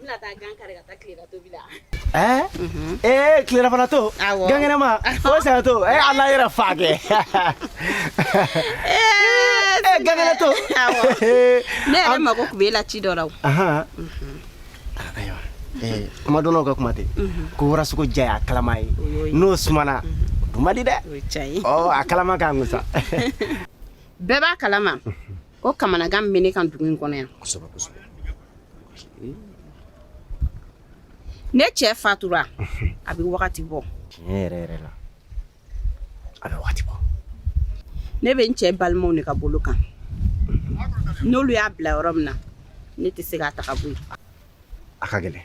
Bɛna taa gan kari ka taa tilera tobi la ee tilerafana to gan kɛnɛma o sa to e ala yɛrɛ fa kɛ gan kɛnɛ to ne yɛrɛ mako tun bɛ e la ci dɔ la kumadɔnnaw ka kuma ten ko warasogo diya y'a kalama ye n'o sumana di dɛ a kalama k'an sa bɛɛ b'a kalama O kamanagan bɛ ne kan dugu in kɔnɔ yan ne cɛ fatura a bɛ wagati bɔ tiɲɛ yɛrɛ la a bɛ waati bɔ ne bɛ n cɛ balimaw de ka bolo kan n'olu y'a bila yɔrɔ min na ne tɛ se k'a ta ka bɔ yen a ka gɛlɛn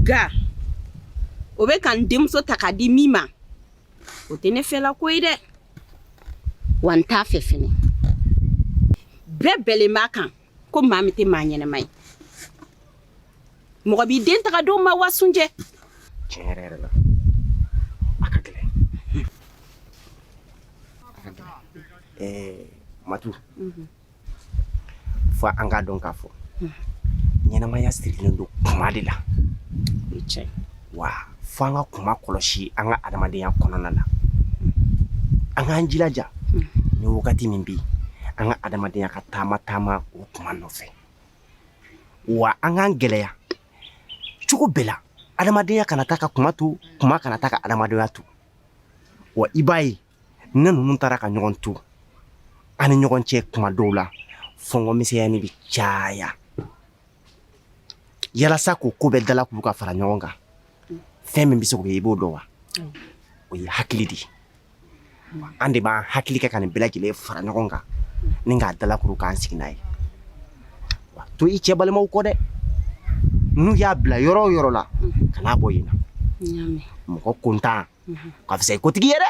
nka o bɛ ka n denmuso ta k'a di min ma o tɛ ne fɛla ko ye dɛ wa n t'a fɛ fɛnɛ bɛɛ bɛnnen b'a kan ko maa min tɛ maa ɲɛnɛma ye mɔgɔ b'i den ta k'a d'o ma wa sunjɛ tiɲɛ yɛrɛ yɛrɛ la a ka gɛlɛn a ka gɛlɛn ɛɛ matu fo an k'a dɔn k'a fɔ ɲɛnamaya sirilen don kuma de la wa fo an ka kuma kɔlɔsi an ka adamadenya kɔnɔna na an k'an jilaja ni wagati min bɛ yen an ka adamadenya ka taama taama o kuma nɔfɛ wa an k'an gɛlɛya cogo bɛɛ la adamadenya kana taa ka kuma to kuma kana taa ka adamadenya to wa i b'a ye ni ninnu taara ka ɲɔgɔn to an ni ɲɔgɔn cɛ kuma dɔw la fɔnkɔ misɛnyanin bɛ caya yalasa k'o ko bɛɛ dalakuru ka fara ɲɔgɔn kan fɛn min bɛ se k'o ye i b'o dɔn wa o ye hakili de ye an de b'an hakili kɛ ka nin bɛɛ lajɛlen fara ɲɔgɔn kan ni k'a dalakuru k'an sigi n'a ye wa to i cɛ balimaw kɔ dɛ n'u y'a bila yɔrɔ o yɔrɔ la kan'a bɔ yen na mɔgɔ kontan ka fisa i kotigi ye dɛ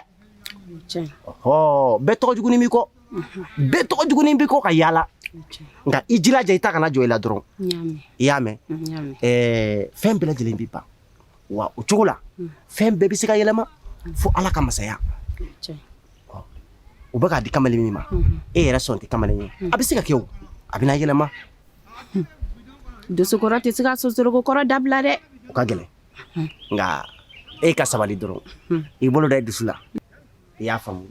bɛɛ tɔgɔ jugunin b'i kɔ bɛɛ tɔgɔ jugunin b'i kɔ ka yaala nka i jilaja i ta kana jɔ i la dɔrɔn i y'a mɛn fɛn bɛɛ lajɛlen bɛ ban wa o cogo la fɛn bɛɛ bɛ se ka yɛlɛma fo ala ka masaya u bɛ k'a di kamalen min ma e yɛrɛ sɔn tɛ kamalen ye a bɛ se ka kɛ o a bɛna yɛlɛma dosokɔrɔ tɛ se k'a sonsoroko kɔrɔ dabila dɛ o ka gɛlɛn nka e ka sabali dɔrɔn i bolo da i dusu la i y'a faamu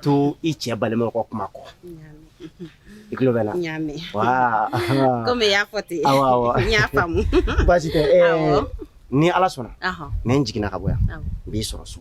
to i cɛ balimaw ka kuma kɔ i tulo bɛ n na komi i y'a fɔ ten n y'a faamu baasi tɛ ni ala sɔnna ni n jiginna ka bɔ yan n b'i sɔrɔ so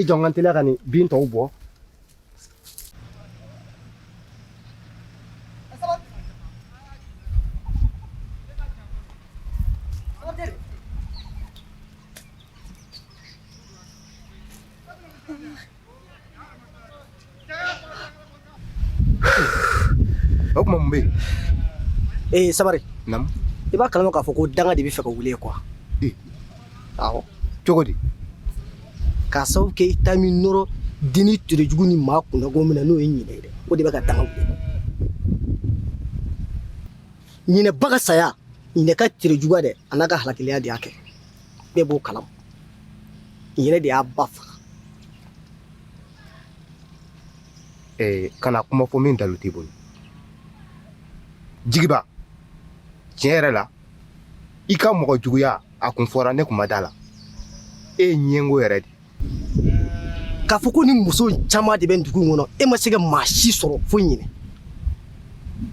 i jɔ n ka teliya ka nin bin tɔw bɔ O kuma mun bɛ yen ee sabari i b'a kalama k'a fɔ ko danga de bɛ fɛ ka wuli kuwa cogo di k'a sababu kɛ i ta min nɔrɔ dennin terejugu ni maa kunnago min na n'o ye ɲinɛ ye dɛ o de bɛ ka danga wuli ɲinɛ ba ka saya ɲinɛ ka terejuguya dɛ an'a ka halakilenya de y'a kɛ bɛɛ b'o kalama ɲinɛ de y'a ba faga Eh, kana kuma fɔ min dalu t'i bolo jigiba tiɲɛ yɛrɛ la i ka mɔgɔ juguya a kun fɔra ne kun ma da la e ye ɲɛngo yɛrɛ de k'a fɔ ko nin muso caman de bɛ dugu in kɔnɔ e ma se ka maa si sɔrɔ fo ɲinɛ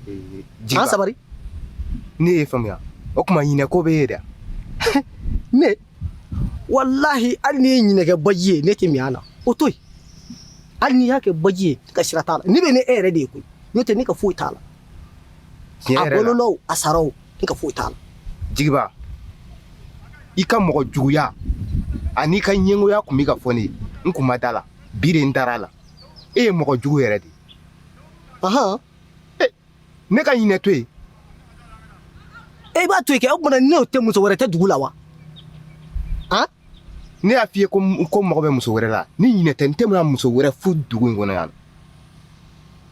eh, an sabari ne y'i faamuya o kuma ɲinɛ ko b'e ye dɛ ne walahi hali n'i ye ɲinɛ kɛ baji ye ne tɛ min a la o to yen hali n'i y'a kɛ baji ye ne ka sira t'a la ne bɛ ne e yɛrɛ de ye koyi n'o tɛ ne ka foyi t'a la a balola o a sara o ne ka foyi t'a la jigiba i ka mɔgɔ juguya an'i ka ɲɛngoya kun bɛ ka fɔ ne ye n kun ma da la bi de n dara a la e ye mɔgɔ jugu yɛrɛ de ye ahan ne ka ɲinɛ to yen e b'a to yen kɛ o tuma ne tɛ muso wɛrɛ tɛ dugu la wa an ne y'a f'i ye ko n mago bɛ muso wɛrɛ la ni ɲinɛ tɛ n tɛna muso wɛrɛ furu dugu in kɔnɔ yan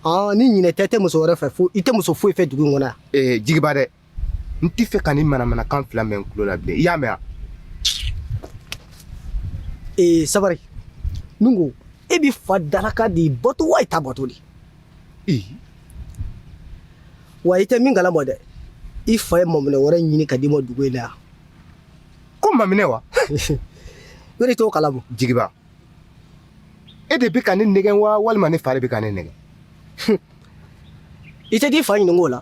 ɔn ni ɲinɛ tɛ i tɛ muso wɛrɛ fɛ fo i tɛ muso foyi fɛ dugu in kɔnɔ yan ee jigiba dɛ n t'a fɛ ka nin manamanakan fila mɛn n tulo la bilen i y'a mɛn wa ee sabari n ko e b'i fa dalakan de bato wa i ta bato de ee wa i tɛ min kalama dɛ i fa ye maminɛ wɛrɛ ɲini ka d'i ma dugu in na yan ko maminɛ wa yɔrɔ i t'o kalama jigiba e de bɛ ka ne nɛgɛn wa walima ne fa de bɛ ka ne nɛgɛn i tɛ t'i fa ɲininka o la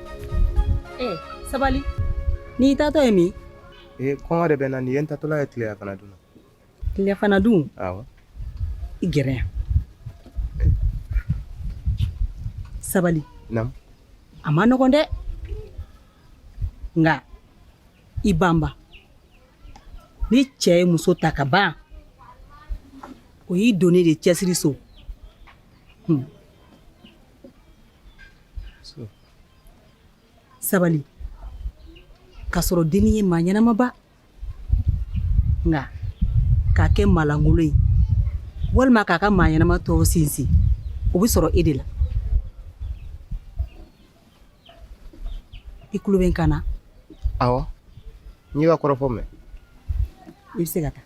ee sabali n'i taatɔ ye min ee kɔngɔ de bɛ n na nin ye n taatɔla ye tileya fana dun tileya fana dun awɔ i gɛrɛ yan sabali naamu a ma nɔgɔn dɛ nka i banba ni cɛ ye muso ta ka ban o y'i donnen de cɛsiri so hmm. sabali k'a sɔrɔ dennin ye maa ɲɛnamaba nka k'a kɛ maa lankolon ye walima k'a ka maa ɲɛnama tɔw sinsin o bɛ sɔrɔ e de la i tulo bɛ n kan na awɔ n y'i ka kɔrɔfɔ mɛn i bɛ se ka taa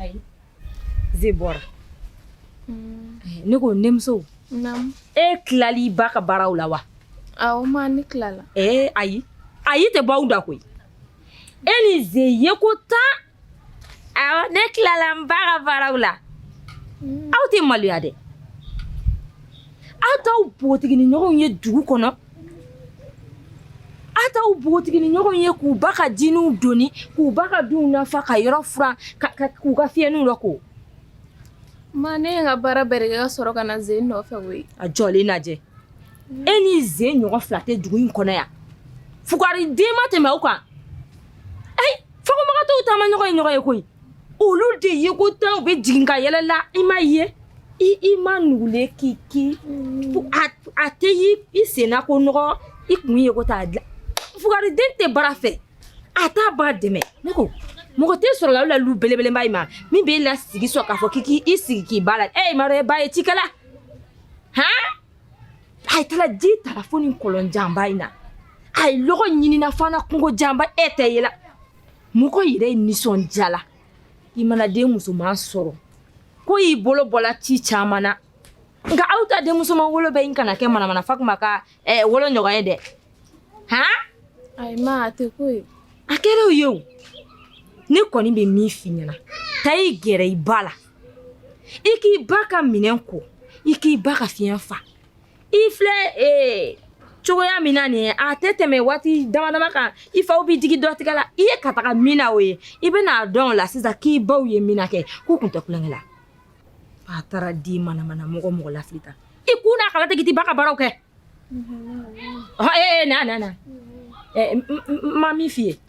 ayi ze bɔra mm. eh, ne ko denmuso e tilala i ba ka baaraw la wa awɔ ma ne tilala ee eh, ayi ayi tɛ bɔ aw da koyi e ni ze ye ko tan awɔ ne tilala n ba ka baaraw la mm. aw tɛ maloya dɛ aw t'aw npogotiginin ɲɔgɔnw ye dugu kɔnɔ Aw t'aw npogotiginin ɲɔgɔnw ye k'u ba ka jininw doni k'u ba ka dunw nafa ka yɔrɔ furan k'u ka fiɲɛninw lako ma ne ye n ka baara bɛɛ de kɛ ka sɔrɔ ka na ze nɔfɛ koyi a jɔlen lajɛ e ni ze ɲɔgɔn fila tɛ dugu in kɔnɔ yan fugari den ma tɛmɛ aw kan Fagomagatɔw taama ɲɔgɔn ye ɲɔgɔn ye koyi olu de ye ko tan u bɛ jigin ka yɛlɛla i ma ye i i ma nugulen k'i ki a tɛ i senna ko nɔgɔ i kun ye ko t'a dilan fugari den tɛ baara fɛ a t'a ba dɛmɛ ne ko mɔgɔ tɛ sɔrɔla lu belebeleba in ma min b'i lasigi sɔrɔ k'a fɔ k' k' i sigi k'i ba la e ma ba ye cikɛla hɔn a ye taara ji tara fo nin kɔlɔn janba in na a ye lɔgɔ ɲinina fana kungo janba e tɛ yela mɔgɔ yɛrɛ ye nisɔndiyala i mana den musoman sɔrɔ k'o y'i bolo bɔla ci caman na nka aw ta den musoman wolo bɛ in kana kɛ manamana Fakuma ka eh, wolo ɲɔgɔn ye dɛ han ayi ma a tɛ ko ye a kɛra o ye o ne kɔni bɛ min f'i ɲɛna taa i gɛrɛ i ba la i k'i ba ka minɛn ko i k'i ba ka fiɲɛ fa i filɛ ee cogoya min na nin ye a tɛ tɛmɛ waati dama dama kan i faw b'i digi dɔ tigɛ la i ye ka taga min na o ye i bɛna a dɔn o la sisan k'i baw ye min na kɛ k'u kun tɛ kulonkɛ la a taara di manamana mɔgɔ mɔgɔ lafili ta i kun n'a kala tɛ k'i ba ka baaraw kɛ ee na na na ma min f'i ye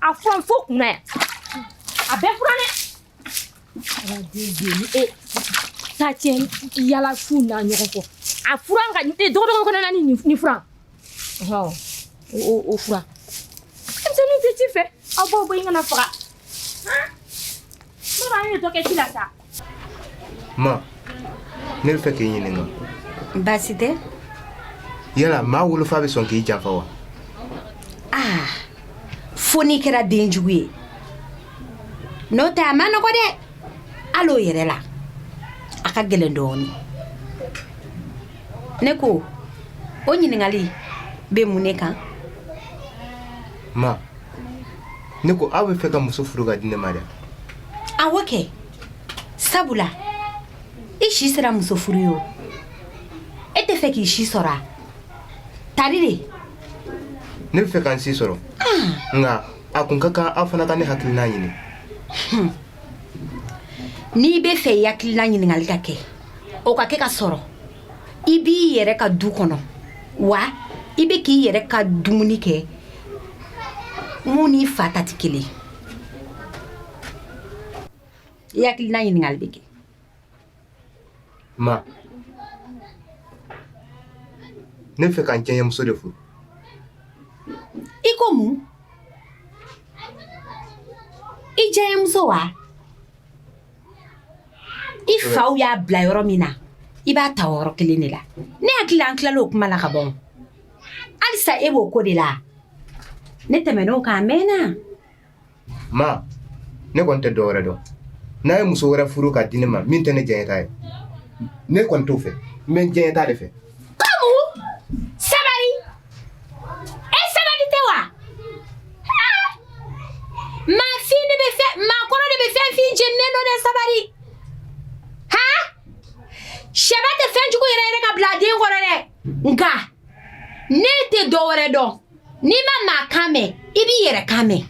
a furan fo kunna yan a bɛɛ furan dɛ e ta tiɲɛ yala fu n'a ɲɔgɔn kɔ a furan ka dɔgɔdɔgɔ kɔnɔ na ni ni furan o o furan denmisɛnninw tɛ ci fɛ aw baw bɔ i kana faga ne b'a ye dɔ kɛ ci la sa Ma ne bɛ fɛ k'i ɲininka baasi tɛ yala maa wolofa bɛ sɔn k'i janfa wa aa fo n'i kɛra den jugu ye n'o tɛ a ma nɔgɔ dɛ hali o yɛrɛ la a ka gɛlɛn dɔɔnin ne ko o ɲininkali bɛ mun ne kan ma ne ko aw bɛ fɛ ka muso furu ka di ne ma dɛ awɔ kɛ sabula i si sera muso furu ye o e tɛ fɛ k'i si sɔrɔ a tari de ne bɛ fɛ ka n si sɔrɔ ah. nka a kun ka kan aw fana ka ne hakilinan ɲini hmm. n'i bɛ fɛ i hakilinan ɲininkali ka kɛ o ka kɛ ka sɔrɔ i b'i yɛrɛ ka du kɔnɔ wa i bɛ k'i yɛrɛ ka dumuni kɛ mun n'i fa ta tɛ kelen i hakilina ɲininkali bɛ kɛ ma ne bɛ fɛ ka n jɛɲɛmuso de furu i ko mun i jɛɲɛmuso wa i faw y'a bila yɔrɔ min na i b'a ta yɔrɔ kelen de la ne hakili la an tilala o kuma la ka ban halisa e b'o ko de la ne tɛmɛn'o kan a mɛnna ma ne kɔni tɛ dɔwɛrɛ dɔn n'a ye muso wɛrɛ furu ka di ne ma min tɛ ne jɛɲɛ ta ye ne kɔni t'o fɛ n bɛ n jɛɲɛ ta de fɛ kamu sabali e sabali tɛ wa Haa! maafin de bɛ fɛn maakɔrɔ de bɛ fɛn fin jeninen dɔn dɛ sabali sɛba tɛ fɛnjugu yɛrɛyɛrɛ ka bila den kɔrɔ dɛ nka ne tɛ dɔ wɛrɛ dɔn n'i ma maa kan mɛn i b'i yɛrɛ kan mɛn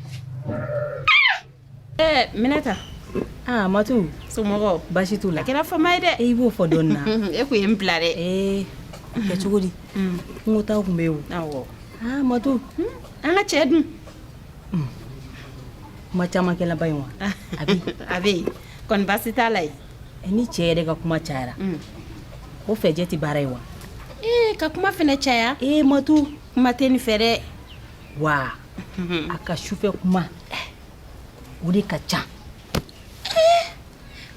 eh, minata aa ah, matu somɔgɔw basi t'u la a kɛra fama ye dɛ i b'o fɔ dɔɔni na e kun ye n bila dɛ eh, kɛ cogo di mm. kungo taw kun bɛ yen o awɔ aa ah, matu hmm? an ka cɛ dun hmm. kuma caman kɛlaba in wa a bɛ yen a bɛ yen kɔni basi t'a la yen ni cɛ yɛrɛ ka kuma cayara o fɛnɛ tɛ baara ye wa ee ka kuma fɛnɛ caya e matu kuma tɛ nin fɛ dɛ wa a ka sufɛ kuma o de ka ca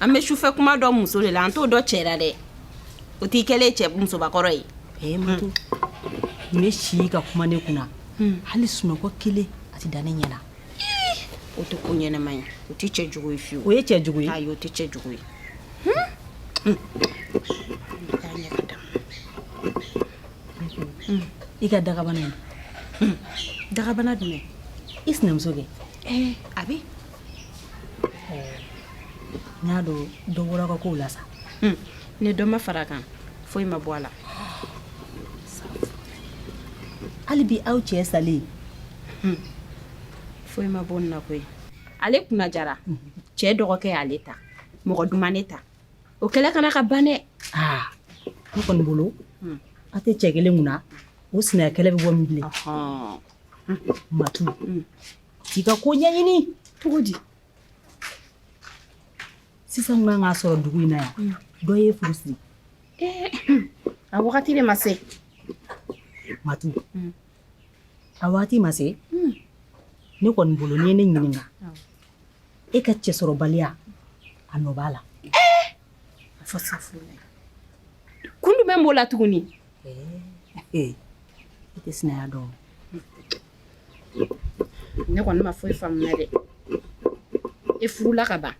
an bɛ sufɛ kuma dɔn muso de la an t'o dɔn cɛ la dɛ o t'i kɛlen cɛ musobakɔrɔ ye e matu nin bɛ si ka kuma ne kunna hali sunɔgɔ kelen a tɛ da ne ɲɛ na o tɛ ko ɲɛnama ye o tɛ cɛ jugu ye fiyewu o ye cɛ jugu ye ayi o tɛ cɛ jugu ye i ka dagabana ye dagabana jumɛn i sinamuso kɛ eh, a bɛ n y'a dɔn dɔ bɔr'a ka kow la sa hmm. ni dɔ ma far'a kan foyi ma bɔ a la hali bi aw cɛ salen foyi ma bɔ n na koyi ale kunna diyara cɛ dɔgɔkɛ y'ale ta mɔgɔ de ma ne ta o kɛlɛ kana ka ban dɛ ne kɔni bolo a tɛ cɛ kelen kunna o sinaya kɛlɛ bɛ bɔ min bilen matu k'i ka ko ɲɛɲini cogo di sisan ka kan k'a sɔrɔ dugu in na yan mm. dɔ y'e furu siri eh, a wagati de ma se matu mm. A waati ma se ne kɔni bolo n'i ye ne ɲininka e ka cɛsɔrɔbaliya a nɔ b'a la kun jumɛn b'o la tuguni i tɛ sinaya dɔn ne kɔni ma foyi faamuya dɛ e furula ka ban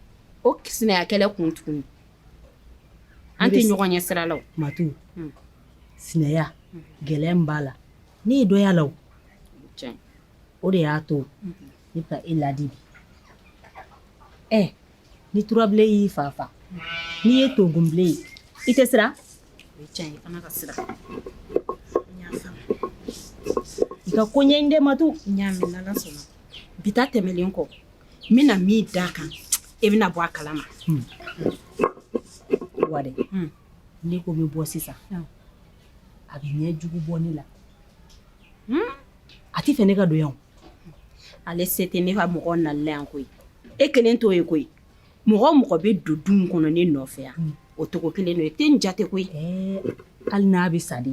o sinaya kɛlɛ kun tuguni an tɛ ɲɔgɔn ye sira la o ma sinaya gɛlɛya min b'a la ne ye dɔ y'a la o de y'a to ne bɛ ka e ladi bi ɛ ni turabilen y'i fa faga n'i ye togunbilen ye i tɛ siran i ka ko ɲɛɲini dɛ matu bi ta tɛmɛlen kɔ n bɛna min d'a kan e bɛna bɔ a kala ma hmm. wa Ne ko n bɛ bɔ sisan a bɛ ɲɛ jugu bɔ ne la hmm? a tɛ fɛ ne ka don yan ale se tɛ ne ka mɔgɔw nali la yan koyi e kelen t'o ye koyi mɔgɔ o mɔgɔ bɛ don du in kɔnɔ ne nɔfɛ yan hmm. o tɔgɔ kelen don e tɛ n jate koyi hali n'a bɛ sa de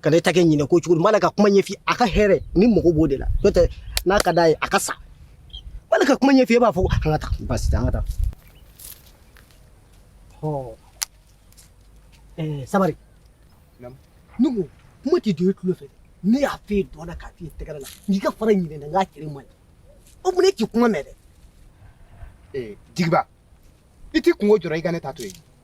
kana e ta kɛ nin ye ko cogo di n b'a la ka kuma ɲɛf'i a ka hɛrɛ ni mɔgɔ b'o de la n'o tɛ n'a ka d'a ye a ka sa n b'a la ka kuma ɲɛf'i e b'a fɔ ko an ka taa basi tɛ an ka taa ɔ ɛɛ sabari ne ko kuma tɛ don e tulo fɛ ne y'a f'e da la k'a f'e tɛgɛrɛ la n'i ka fara ɲinɛ na n k'a tere man ɲi o mun ne k'i kuma mɛn dɛ ee jigiba i t'i kunko jɔrɔ i ka ne ta to yen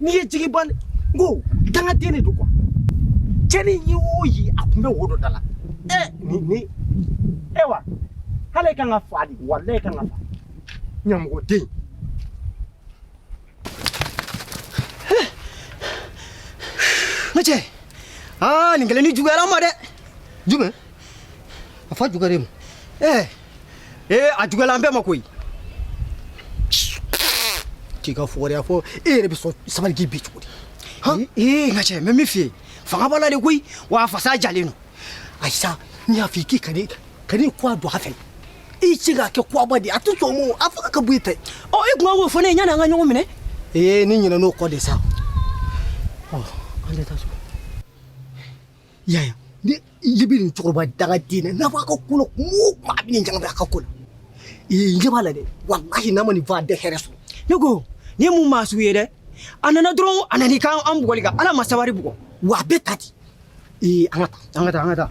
N'i ye jigiba n ko dangaden de don quoi cɛnni ye o ye a tun bɛ wodo da la ni ayiwa walayi a ka kan ka faga dɛ walayi a ka kan ka faga ɲamɔgɔden ne cɛ aa nin kelen ni juguyara n ma dɛ jumɛn a fa juguyara e ma e a juguyala an bɛɛ ma koyi k'i ka fugariya fɔ e yɛrɛ bɛ sɔn sabali k'i bin cogo di ee n ka cɛ n bɛ min f'i ye fanga b'a la de koyi wa fasa jalen don ayi sa n y'a f'i k'i ka ne kuwa don a fɛ i se k'a kɛ kuwaba de a tɛ sɔn o a fanga ka bon i ta ye ɔ e tun ka k'o fɔ ne ye yanni an ka ɲɔgɔn minɛ ee ne ɲinɛna o kɔ de sa ɔ an tɛ taa so Yaya. Ni ye bi nin cɛkɔrɔba dangaden na n'a b'a ka ko la kuma o kuma a bɛ nin ɲagami a ka ko la. Ee n ɲɛ b'a la dɛ walahi n'a ma nin fɔ a tɛ hɛrɛ sɔrɔ. Ne ko nin ye mun maa sugu ye dɛ a nana dɔrɔn a nana i kan an bugɔli kan Ala ma sabari bugɔ wa a bɛ ta ten. Ee an ka taa an ka taa an ka taa.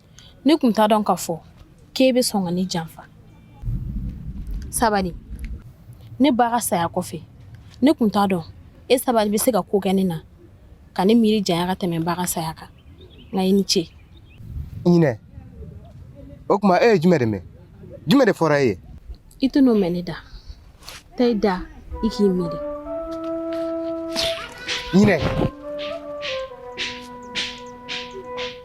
ne tun t'a dɔn k'a fɔ k'e bɛ sɔn ka ne janfa sabali ne ba ka saya kɔfɛ ne tun t'a dɔn e sabali bɛ se ka ko kɛ ne na ka ne miiri janya ka tɛmɛ ba ka saya kan nka i ni ce ɲinɛ o tuma e ye jumɛn de mɛn jumɛn de fɔra e ye i tɛn'o mɛn ne da taa i da i k'i miiri ɲinɛ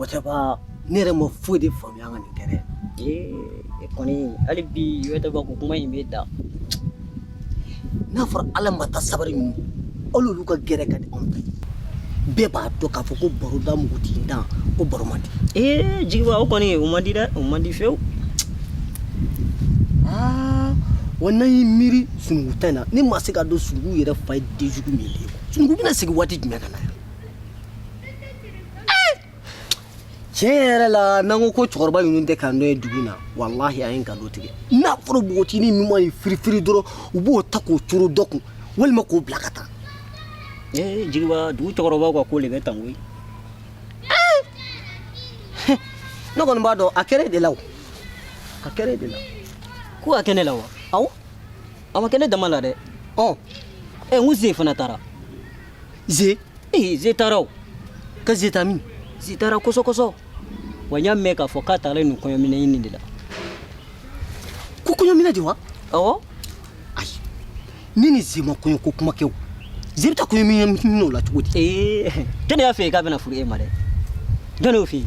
O tɛ ban ne yɛrɛ ma foyi de faamuya ka nin kɛ dɛ ee e kɔni hali bi i tɛ ba ko kuma in b'i da n'a fɔra ala ma ta sabari ninnu olu ka gɛrɛ ka di anw ta bɛɛ b'a dɔn k'a fɔ ko baroda mugutigi dan ko baro man di ee jigiba o kɔni o man di dɛ o man di fewu aa wa n'an y'i miiri sunugu ta in na ne ma se k'a dɔn sunugu yɛrɛ fa ye denjugu min ye sunugu bɛna segin waati jumɛn ka na yan tiɲɛ yɛrɛ la n'an ko ko cɛkɔrɔba ninnu tɛ k'an dɔn ye dugu in na walahi an ye nkalon tigɛ n'a fɔra npogotinin ninnu ma ye firifiri dɔrɔn u b'o ta k'o coro dɔ kun walima k'o bila ka taa ee eh, jigiba dugu cɛkɔrɔbaw ka ko de bɛ tan koyi eh! ne kɔni b'a dɔn a kɛra e de la o a kɛra e de la ko a kɛ ne la wa awɔ a ma kɛ ne dama la dɛ ɔ ɛ n ko ze fana taara ze ee ze taara o ka ze taa min ze taara kɔsɔkɔsɔ wa n y'a mɛn k'a fɔ k'a taara nin kɔɲɔminɛ ɲini de la ko kɔɲɔminɛ de wa ɔwɔ ayi ne ni ze ma kɔɲɔ ko kuma kɛ o ze bɛ taa kɔɲɔminɛ o la cogo di ee jɔnni y'a f'e ye k'a bɛna furu e ma dɛ jɔnni y'o f'e ye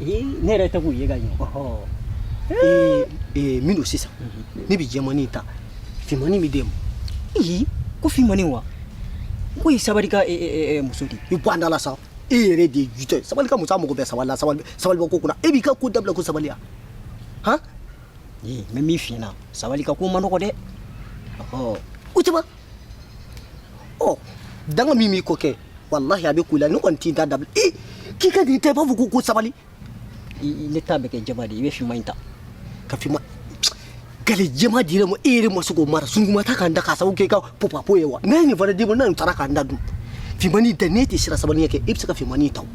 ee ne yɛrɛ tɛ k'u ye ka ɲɛ ee ee min don sisan ne bɛ jɛmani ta fimani bɛ d'e ma ee ko fimani wa k'o ye sabali ka muso de ye i bɔ an da la sa e yɛrɛ de ye jutɔ ye sabali ka muso a mago bɛ sabali la sabali sabali bɔ ko kunna e b'i ka ko dabila ko sabali ya han ee n bɛ min f'i ɲɛna sabali ka ko man nɔgɔ dɛ ɔhɔ o tɛ ban ɔ danga min b'i kɔ kɛ walahi a bɛ ko la ne kɔni tɛ n ta dabila ee k'i ka nin ta i b'a fɔ ko ko sabali ne ta bɛ kɛ jɛman de ye i bɛ finman in ta ka finman gale jɛman dir'e ma e yɛrɛ ma se k'o mara sungurun ma taa k'an dan k'a sababu kɛ i ka popapo ye wa n'an ye nin fana d'i ma ni nin taara k'an dan dun finmani ta n'e tɛ siran sabali ɲɛ kɛ e bɛ se ka finmani ta o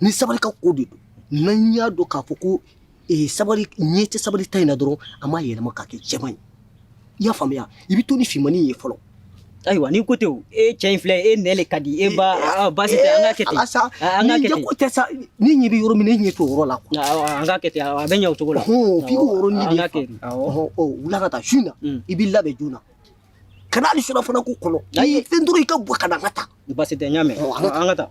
ni sabali ka ko de don n'an y'a dɔn k'a fɔ ko eh, sabali ɲɛ tɛ sabali ta in na dɔrɔn an b'a yɛlɛma k'a kɛ jɛman ye i y'a faamuya i bɛ to ni finmani ye fɔlɔ ayiwa ni ko tɛ o e cɛ in filɛ e nɛ le ka di e ba ah, baasi tɛ an ka kɛ ten Eh, sa Ah, an ka kɛ ten ko tɛ sa ni ɲɛ bɛ yɔrɔ min na i ɲɛ t'o yɔrɔ la quoi Awɔ, an ka kɛ ten awɔ, a bɛ ɲɛ o cogo la Ɔhɔn, f'i k'o yɔrɔ ɲini an de ka fa. kɛ ten awɔ. Ɔhɔn, ɔ, wula ka taa su in na Mm. i b'i labɛn joona kana hali surafana ko kɔnɔ ayi fɛn dɔrɔn i ka bɔ ka na an ka taa baasi tɛ n y'a mɛn an ka taa